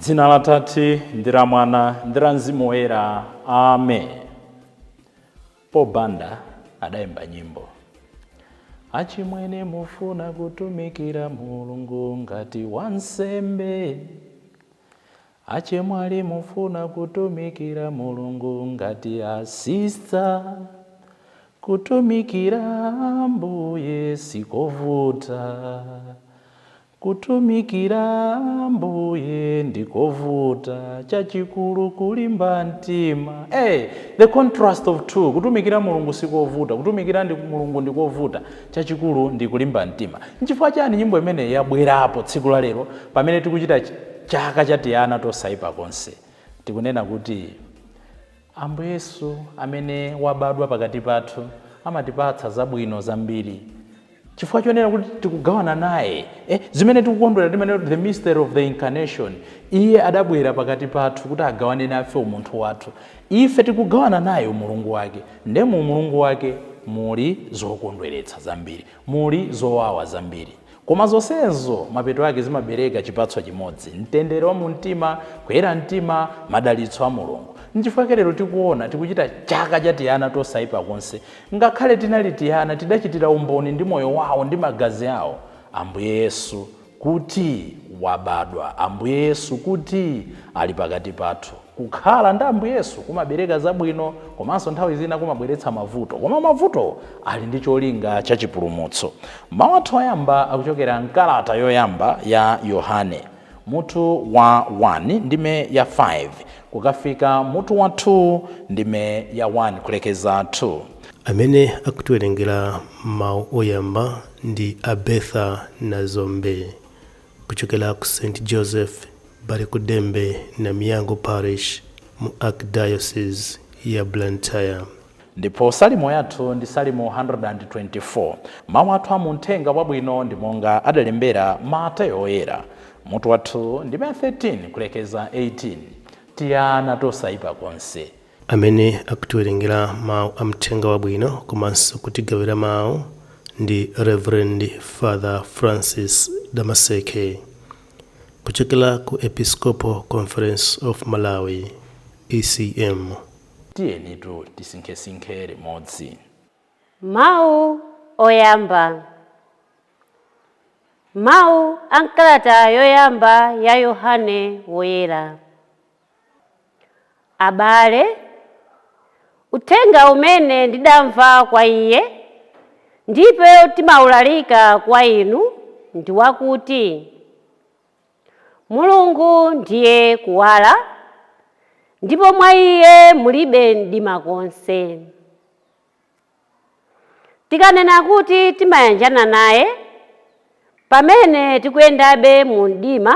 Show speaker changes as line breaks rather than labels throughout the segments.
dzina la tate ndi la mwana ndi la mzimu woyera amen Paul Banda adayimba nyimbo achimwene mufuna kutumikira mulungu ngati wansembe Achemwali mufuna kutumikira Mulungu ngati a sister? Kutumikira Ambuye sikovuta. Kutumikira Ambuye ndikovuta. Chachikulu kulimba mtima. Hey! The contrast of two. Kutumikira Mulungu sikovuta. Kutumikira Mulungu ndikovuta. chachikulu ndi kulimba mtima. Nchifukwa chiyani nyimbo imene yabwerapo tsiku la lero pamene tikuchita Chaka cha Tiana Tosaipa Konse? Tikunena kuti Ambuye Yesu amene wabadwa pakati pathu amatipatsa zabwino zambiri. Chifukwa chonena kuti tikugawana naye eh, zimene tikukondwera timanena kuti the mystery of the incarnation, iye adabwera pakati pathu kuti agawane nafe umunthu wathu. Ife tikugawana naye Umulungu Wake. Ndiye mu Umulungu Wake muli zokondweretsa zambiri, muli zowawa zambiri. Koma zonsezo mapeto ake zimabereka chipatso chimodzi, mtendere wa mu mtima, kuyera mtima, madalitso a Mulungu. Nchifukwa lero tikuona tikuchita chaka cha tiana tosaipa konse. Ngakhale tinali tiana, tidachitira umboni ndi moyo wao ndi magazi ao. Ambuye Yesu, kuti wabadwa, Ambuye Yesu kuti ali pakati pathu. Kukhala ndi Ambuye Yesu kumabereka zabwino komanso nthawi zina kumabweretsa mavuto, koma mavuto ali ndi cholinga cha chipulumutso. Mawu athu oyamba akuchokera m'kalata yoyamba ya Yohane, mutu wa 1, ndime ya 5, kukafika mutu wa 2, ndime ya 1, kulekeza 2. Amene
akutiwerengera mawu oyamba ndi a Bertha Nazombe kuchokera ku St Joseph Balikudembe Namiyango Parish mu Archdiocese ya Blantyre. Ndipo
salimo yathu ndi Salimo 124. Mawu athu a mu Uthenga Wabwino ndi monga adalembera Mateyo Woyera, mutu wa 2, ndime ya 13 kulekeza 18, Tiana tosaipa konse, Amene
akutiwerengera mau a Mthenga Wabwino komanso kutigawira mau ndi Rev. Father Francis Damaseke kuchokera ku Episcopal Conference of Malawi, ECM. Tiyenitu
tisinkhesinkhe limodzi. Mawu
Oyamba Mawu a m'kalata yoyamba ya Yohane Woyera. Abale, uthenga umene ndidamva kwa iye, ndipo timaulalika kwa inu, ndi wakuti Mulungu ndiye kuwala, ndipo mwa iye mulibe mdima konse. Tikanena kuti timayanjana naye pamene tikuyendabe mu mdima,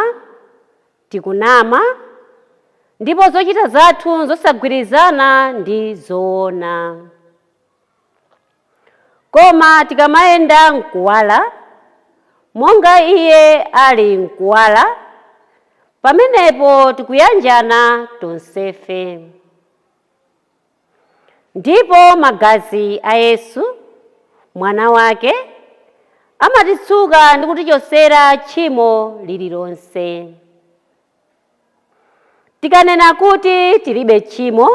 tikunama ndipo zochita zathu n'zosagwirizana ndi zoona. Koma tikamayenda m'kuwala, monga iye ali m'kuwala, pamenepo tikuyanjana tonsefe. Ndipo Magazi a Yesu, Mwana Wake, amatitsuka ndi kutichotsera tchimo lililonse. Tikanena kuti tilibe tchimo,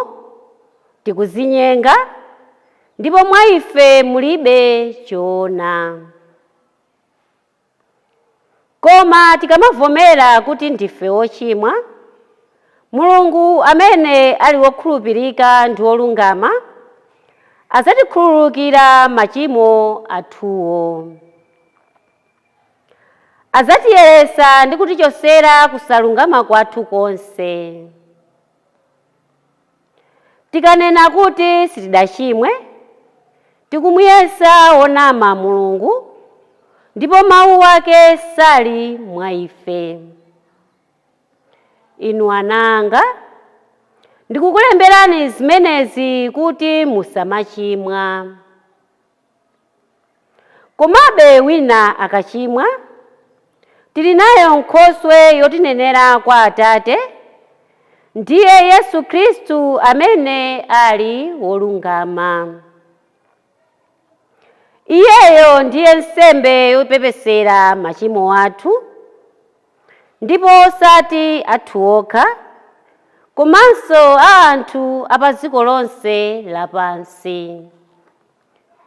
tikuzinyenga, ndipo mwa ife mulibe choona. Koma tikamavomera kuti ndife wochimwa, Mulungu amene ali wokhulupirika ndi wolungama, adzatikhululukira machimo athuwo. Adzatiyeretsa ndi kutichotsera kusalungama kwathu konse. Tikanena kuti sitidachimwe, tikumuyesa wonama Mulungu, ndipo mawu wake sali mwa ife. Inu ana anga, ndikukulemberani zimenezi kuti musamachimwa. Komabe wina akachimwa, tili nayo Nkhoswe yotinenera kwa Atate, ndiye Yesu Khristu amene ali wolungama. Iyeyo ndiye nsembe yopepesera machimo athu, ndipo osati athu okha, komanso a anthu a padziko lonse lapansi.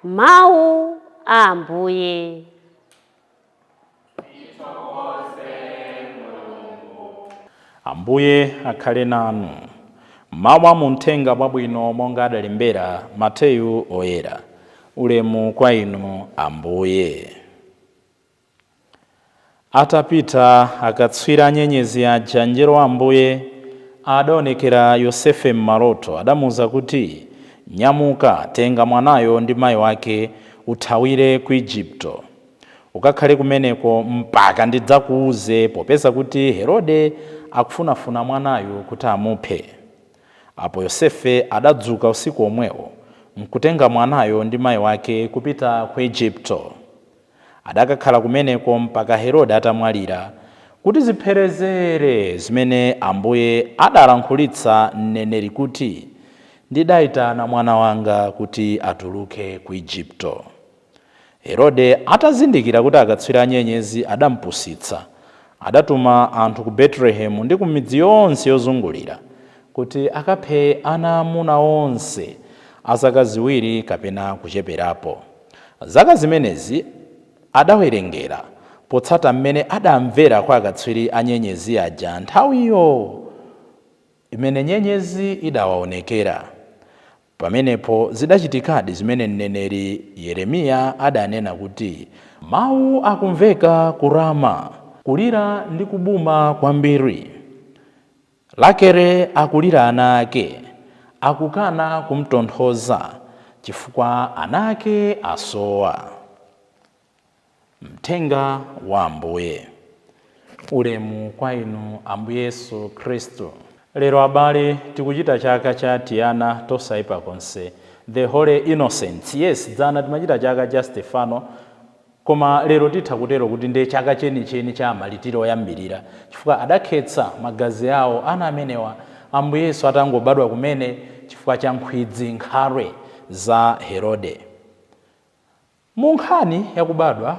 Mawu a Ambuye.
Ambuye akhale nanu. Mawu a mu Mthenga Wabwino monga adalembera Mateyu Oyera. Ulemu kwa Inu Ambuye. Atapita akatswiri a nyenyezi aja, mngelo wa Ambuye adaonekera Yosefe m'maloto. Adamuuza kuti, Nyamuka, tenga mwanayo ndi mai wake, uthawire ku Ejipito. Ukakhale kumeneko mpaka ndidzakuuze, popeza kuti Herode akufunafuna mwanayu kuti amuphe. Apo Yosefe adadzuka usiku womwewo, nkutenga mwanayo ndi mai wake kupita ku Ejipito. Adakakhala kumeneko mpaka Herode atamwalira, kuti zipherezere zimene Ambuye adalankhulitsa mneneri kuti, Ndidaitana Mwana wanga kuti atuluke ku Ejipito. Herode atazindikira kuti akatswiri a nyenyezi adampusitsa, adatuma anthu ku Betelehemu ndi ku midzi yonse yozungulira, kuti akaphe ana aamuna onse a zaka ziwiri kapena kucheperapo. Zaka zimenezi adawerengera potsata m'mene adamvera kwa akatswiri a nyenyezi aja nthawiyo imene nyenyezi idawaonekera. Pamenepo zidachitikadi zimene mneneri Yeremiya adanena kuti, Mau akumveka ku Rama, kulira ndi kubuma kwambiri. Rakele akulira ana ake akukana kumtonthoza chifukwa ana ake asowa. Mthenga wa Ambuye. Ulemu kwa Inu, Ambuye Yesu Khristu. Lero abale tikuchita chaka cha tiana tosaipa konse, the Holy Innocents. Yes, dzana timachita chaka cha Stephano. Koma lero titha kutero kuti ndiye chaka chenicheni cha amalitiri oyambirira chifukwa adakhetsa magazi awo ana amenewa Ambuye Yesu atangobadwa kumene chifukwa cha nkhwidzi, nkhalwe za Herode. Mu nkhani ya kubadwa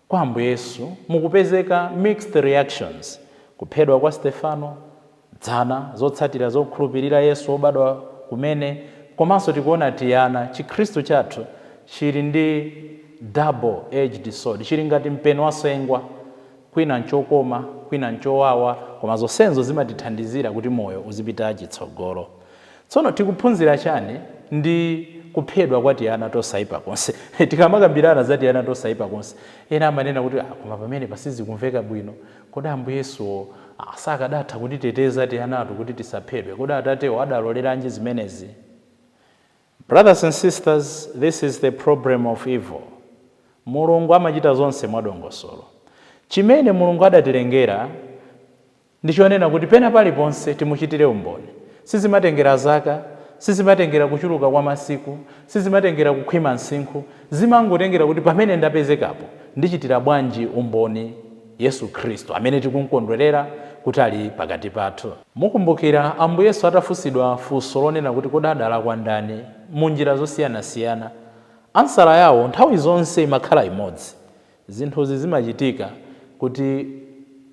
kwa Ambuye Yesu mukupezeka mixed reactions, kuphedwa kwa Stefano, Dzana, zotsatira zokhulupirira Yesu wobadwa kumene komanso tikuona tiana, chikhristu chathu chili ndi double edged sword, chili ngati mpeni wa sengwa, kwina nchokoma kwina nchowawa koma zonsenzo zimatithandizira kuti moyo uzipita chitsogolo. Tsono tikuphunzira chani ndi kuphedwa kwa tiana tosaipa konse? Tikamakambirana za tiana tosaipa konse, ena amanena kuti, ah koma pamenepa sizikumveka bwino. Kodi Ambuye Yesuwo sakadatha kutiteteza tianatu kuti tisaphedwe? Kodi Atatewo adaloleranji zimenezi? Brothers and sisters, this is the problem of evil. Mulungu amachita zonse mwadongosolo. Chimene Mulungu adatilengera ndi chonena kuti pena paliponse timuchitire umboni. Sizimatengera zaka, sizimatengera kuchuluka kwa masiku, sizimatengera kukhwima msinkhu, zimangotengera kuti pamene ndapezekapo ndichitira bwanji umboni. Yesu Khristu, amene tikum'kondwerera kuti ali pakati pathu. Mukumbukira, Ambuye Yesu atafunsidwa funso lonena kuti kodi adalakwa ndani mu njira zosiyanasiyana, ansala yawo nthawi zonse imakhala imodzi, Zinthuzi zimachitika kuti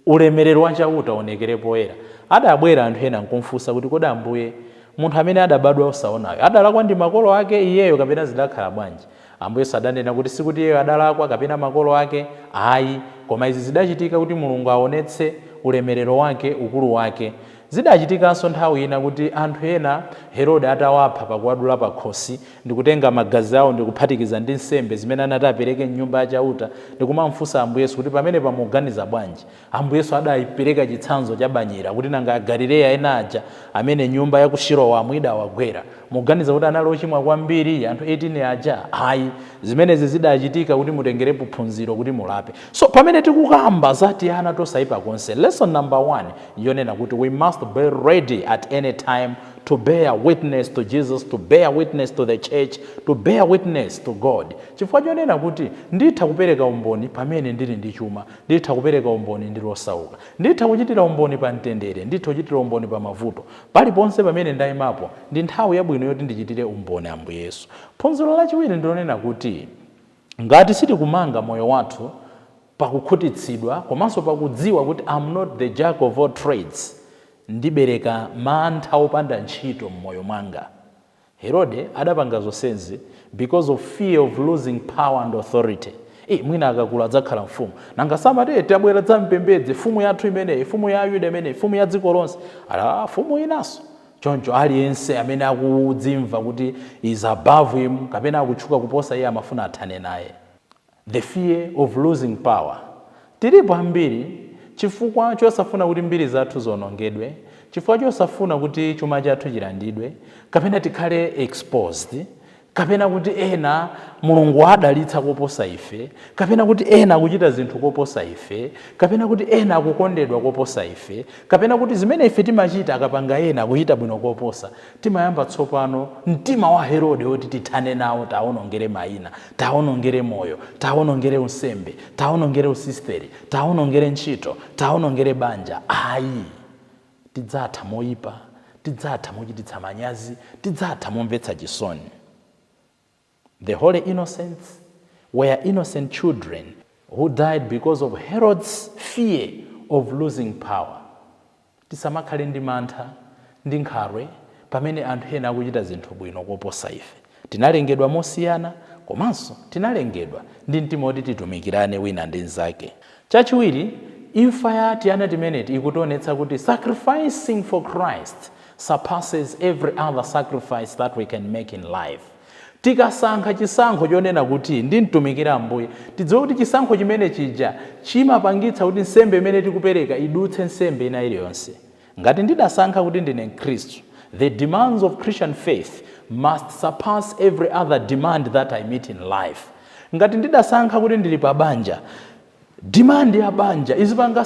ulemerero wa Chauta uwonekere poyera. Adabwera anthu ena nkumufunsa kuti, kodi Ambuye, munthu amene adabadwa osaonayu, adalakwa ndi makolo ake iyeyo kapena zidakhala bwanji? Ambuye Yesu adanena kuti sikuti iyeyo adalakwa kapena makolo ake ayi, koma izi zidachitika kuti Mulungu aonetse ulemerero wake, ukulu wake. Zidachitikanso nthawi ina kuti anthu ena Herode atawapha pakuwadula pakhosi, ndikutenga magazi awo ndikuphatikiza ndi nsembe zimene anati apereke m'Nyumba ya Chauta, ndikumamfunsa Ambuye Yesu kuti pamenepa muganiza bwanji? Ambuye Yesu adaipereka chitsanzo chabanyera kuti nanga Agalileya ena aja amene nyumba ya ku Siloamu idawagwera, muganiza kuti anali ochimwa kwambiri, anthu 18 aja? Ayi. Zimenezi zidachitika kuti mutengerepo phunziro kuti mulape. So, pamene tikukamba za tiana tosaipa konse, lesson number 1 yonena kuti we must be ready at any time to bear witness to Jesus, to bear witness to the Church, to bear witness to God. Chifukwa chonena kuti nditha kupereka umboni pamene ndili ndi chuma. Nditha kupereka umboni ndili osauka. Nditha kuchitira umboni pa mtendere. Nditha kuchitira umboni pa mavuto. Paliponse pamene ndaimapo, ndi nthawi yabwino yoti ndichitire umboni Ambuye Yesu. Phunziro lachiwiri ndi lonena kuti ngati sitikumanga moyo wathu pa kukhutitsidwa komanso pa kudziwa kuti I'm not the Jack of all trades, ndibereka mantha opanda ntchito m'moyo mwanga. Herode adapanga zonsezi because of fear of losing power and authority ii mwina akakula adzakhala mfumu nanga samati ee tabwera dzampembedze mfumu yathu imeneyi mfumu ya ayuda imeneyi mfumu ya dziko lonse alaa mfumu inanso choncho aliyense amene akudzimva kuti is above him kapena akutchuka kuposa iye amafuna athane naye The fear of losing power Tilipo ambiri chifukwa chosafuna kuti mbiri zathu zionongedwe, chifukwa chosafuna kuti chuma chathu chilandidwe, kapena tikhale exposed, kapena kuti ena Mulungu waadalitsa koposa ife, kapena kuti ena akuchita zinthu koposa ife, kapena kuti ena akukondedwa koposa ife, kapena kuti zimene ife timachita akapanga ena akuchita bwino koposa, Timayamba tsopano, mtima wa Herode woti tithane nawo tiawonongere maina, tiawonongere moyo, tiawonongere unsembe, tiawonongere usisiteri, tiawonongere ntchito, tiawonongere banja, ayi. Tidzatha moyipa, tidzatha mochititsa manyazi, tidzatha momvetsa chisoni. The Holy Innocents were innocent children who died because of Herod's fear of losing power. Tisamakhale ndi mantha ndi nkhalwe pamene anthu ena akuchita zinthu bwino koposa ife. Tinalengedwa mosiyana komanso tinalengedwa ndi mtima woti titumikirane wina ndi mnzake. Chachiwiri, imfa ya tiana timeneti ikutionetsa kuti sacrificing for Christ surpasses every other sacrifice that we can make in life. Tikasankha chisankho chonena kuti ndimtumikire Ambuye, tidziwe kuti chisankho chimene chija chimapangitsa kuti nsembe imene tikupereka idutse nsembe ina iliyonse. Ngati ndidasankha kuti ndine Mkhristu, the demands of Christian faith must surpass every other demand that I meet in life. Ngati ndidasankha kuti ndili pa banja, demand ya banja izipanga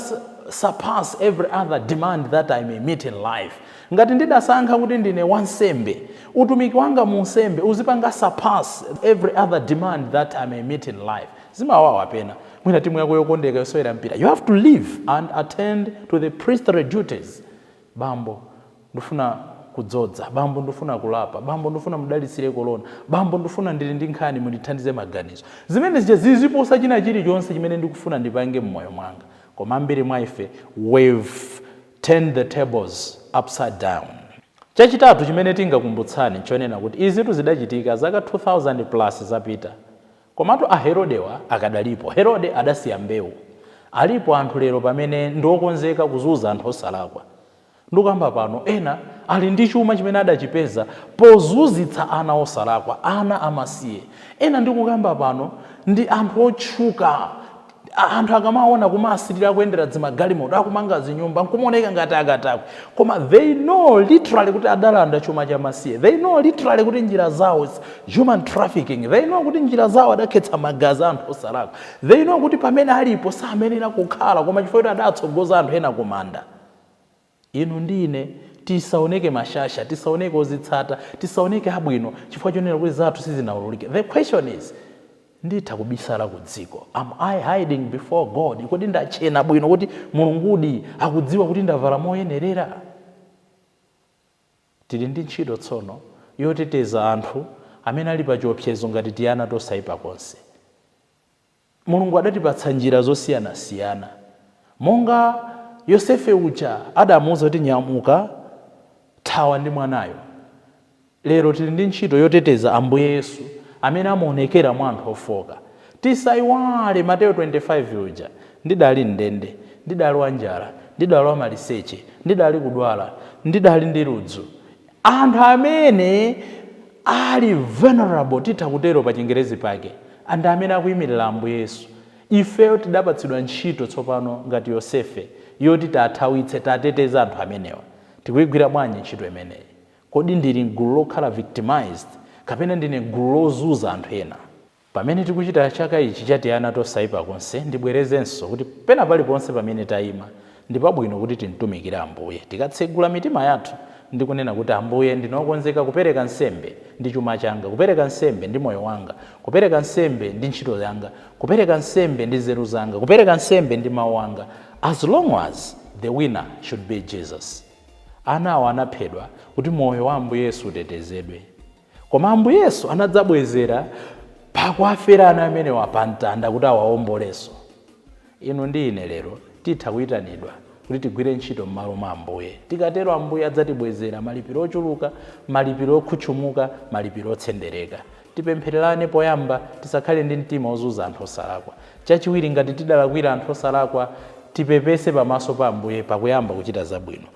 surpass every other demand that I may meet in life. Ngati ndidasankha kuti ndine wansembe, utumiki wanga mu unsembe uzipanga surpass every other demand that I may meet in life. zimawawa pena mwina timu yako yokondeka yosewera mpira you have to leave and attend to the priestly duties bambo ndifuna kudzodza bambo ndifuna kulapa bambo ndifuna mundidalitsire kolona bambo ndifuna ndili ndi nkhani mundithandize maganizo zimene zija ziziposa china chilichonse chimene ndikufuna ndipange mmoyo mwanga koma ambiri mwa ife we've turned the tables upside down chachitatu chimene tingakumbutsani nchonena kuti izitu zidachitika zaka 2000 plus zapita Komatu a Herodewa akadalipo. Herode adasiya mbewu. Alipo anthu lero pamene ndi okonzeka kuzunza anthu osalakwa. Ndikukamba pano, ena ali ndi chuma chimene adachipeza pozunzitsa ana osalakwa, ana amasiye. Ena ndikukamba pano ndi anthu otchuka. Anthu akamawaona kumawasirira akuyendera dzimagalimoto, akumanga zinyumba, nkumaoneka ngati akatakwe. Koma they know literally kuti adalanda chuma cha masiye. They know literally kuti njira zawo is human trafficking. They know kuti njira zawo adakhetsa magazi a anthu osalakwa. They know kuti pamene alipo samayenera kukhala koma chifukwa choti adatsogoza anthu ena kumanda. Inu ndi ine tisaoneke mashasha, tisaoneke ozitsata, tisaoneke abwino chifukwa chonena kuti zathu sizinaululike. The question is, Nditha kubisala ku dziko? Am I hiding before God? Kodi ndatchena bwino kuti Mulungudi akudziwa kuti ndavala moyenerera? Tili ndi ntchito tsono yoteteza anthu amene ali pachiopsezo ngati tiana tosaipa konse. Mulungu adatipatsa njira zosiyanasiyana. Monga Yosefe uja adamuuza kuti nyamuka, thawa ndi mwanayo. Lero tili ndi ntchito yoteteza Ambuye Yesu amene amaonekera mwa anthu ofooka. Tisaiwale Mateyo 25 uja. Ndidali m'ndende, ndidali wanjala, ndidali wamaliseche, ndidali kudwala, ndidali ndi ludzu. Anthu amene ali vulnerable, titha kutero pa chingerezi pake, ndi amene akuimirira Ambuye Yesu. Ifeyo tidapatsidwa ntchito tsopano ngati Yosefe yoti tiathawitse, tiateteze anthu amenewa. Tikuigwira bwanji ntchito imeneyi? Kodi ndili m'gulu lokhala victimised kapena ndine m'gulu lozunza anthu ena? Pamene tikuchita chaka ichi cha tiana tosaipa konse, ndibwerezenso kuti pena paliponse pamene taima, ndi pabwino kuti timtumikire Ambuye, tikatsegula mitima yathu ndi kunena kuti, Ambuye, ndine okonzeka kupereka nsembe ndi chuma changa, kupereka nsembe ndi moyo wanga, kupereka nsembe ndi ntchito yanga, kupereka nsembe ndi nzeru zanga, kupereka nsembe ndi mau anga, as long as the winner should be Jesus. Anawo anaphedwa kuti moyo wa Ambuye Yesu utetezedwe. Koma Ambuye Yesu anadzabwezera pakuwafera ana amenewa pa mtanda kuti awaombolenso. Inu ndi ine lero titha kuitanidwa kuti tigwire ntchito m'malo mwa Ambuye. Tikatero Ambuye adzatibwezera malipiro ochuluka, malipiro okhutchumuka, malipiro otsendereka. Tipemphererane poyamba, tisakhale ndi mtima ozunza anthu osalakwa. Chachiwiri, ngati tidalakwira anthu osalakwa, tipepese pamaso pa Ambuye pakuyamba kuchita zabwino.